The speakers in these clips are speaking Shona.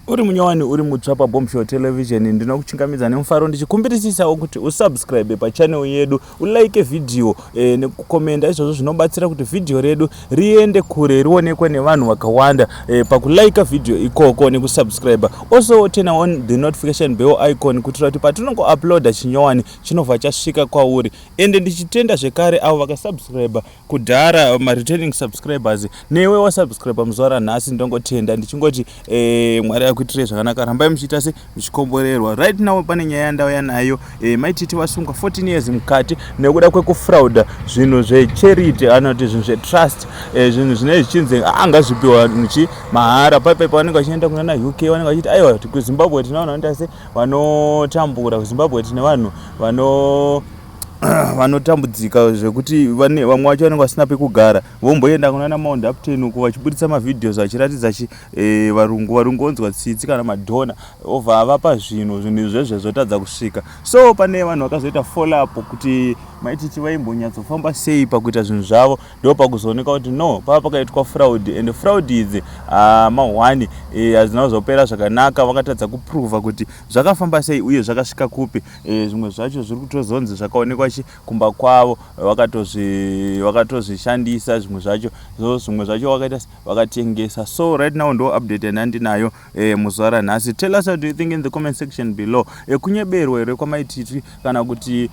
uri munyowani uri mutsva pabombshel television ndinokuchingamidza nemufaro ndichikumbirisisawo kuti usubscribe pachanel yedu ulike vhidhiyo e, nekukomenda izvozvo zvinobatsira kuti vhidhiyo redu riende kure rionekwe nevanhu vakawanda e, pakulaika vhidhiyo ikoko nekusubscribe also turn on the notification bell icon kuitira kuti patinongouploada chinyowani chinobva chasvika kwauri ende ndichitenda zvekare avo vakasubscribe kudhara um, returning subscribers newe wasubscribe muzuva ranhasi ndongotenda ndichingoti eh, mwari akuitirei zvakanaka rambai muchiita se muchikomborerwa right now pane nyaya yandauya nayo eh, maititi vasungwa 14 years mukati nekuda kwekufrauda zvinhu zvecharity anoti zvinhu zvetrust eh, zvinhu zvinei zvichinzi anga zvipiwa nchi mahara paipaip vanenge vachienda kunana uk vanenge vachiti aiwa kuzimbabwe tinavanhu vanoita se vanotambura kuzimbabwe tine vanhu vano vanotambudzika zvekuti vamwe vacho vanenge vasina pekugara vomboenda kunana maondapten uko vachiburitsa mavideos vachiratidza chi e, varungu varungu vonzwa tsitsi kana madhona obva avapa zvinhu zvinhu izvezve zvotadza kusvika so pane vanhu vakazoita follow up kuti maititi vaimbonyatsofamba sei pakuita zvinhu zvavo ndo pakuzooneka kuti no pava pakaitwa fraud and fraud idzi ah, mahwani eh, hazvina kuzopera zvakanaka vakatadza kuprova kuti zvakafamba sei uye zvakasvika kupi Eh, zvimwe zvacho zviri kutozonzi zvakaonekwa kumba kwavo vakatozvishandisa zvimwe zvacho so zvimwe zvacho wakaita vakatengesa so right now ndo update yandandinayo eh, muzuva ranhasi tell us what do you think in the comment section below eh, kunyeberwa here kwamaititi kana kuti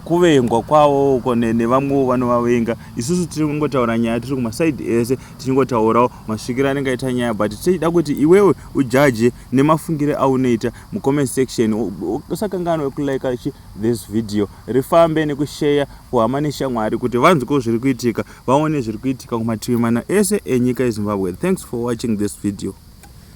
kuvengwa kwavo uko nevamwewo vanovavenga isusu tiri kungotaura nyaya tiri kumasaidi ese tichingotaurawo masvikiro anenge aita nyaya but tichida kuti iwewe ujaje nemafungire aunoita mucomment section usakanganwe kulike this video rifambe nekusheya kuhama neshamwari kuti vanzwewo zviri kuitika vaone zviri kuitika kumativi mana ese enyika yezimbabwe thanks for watching this video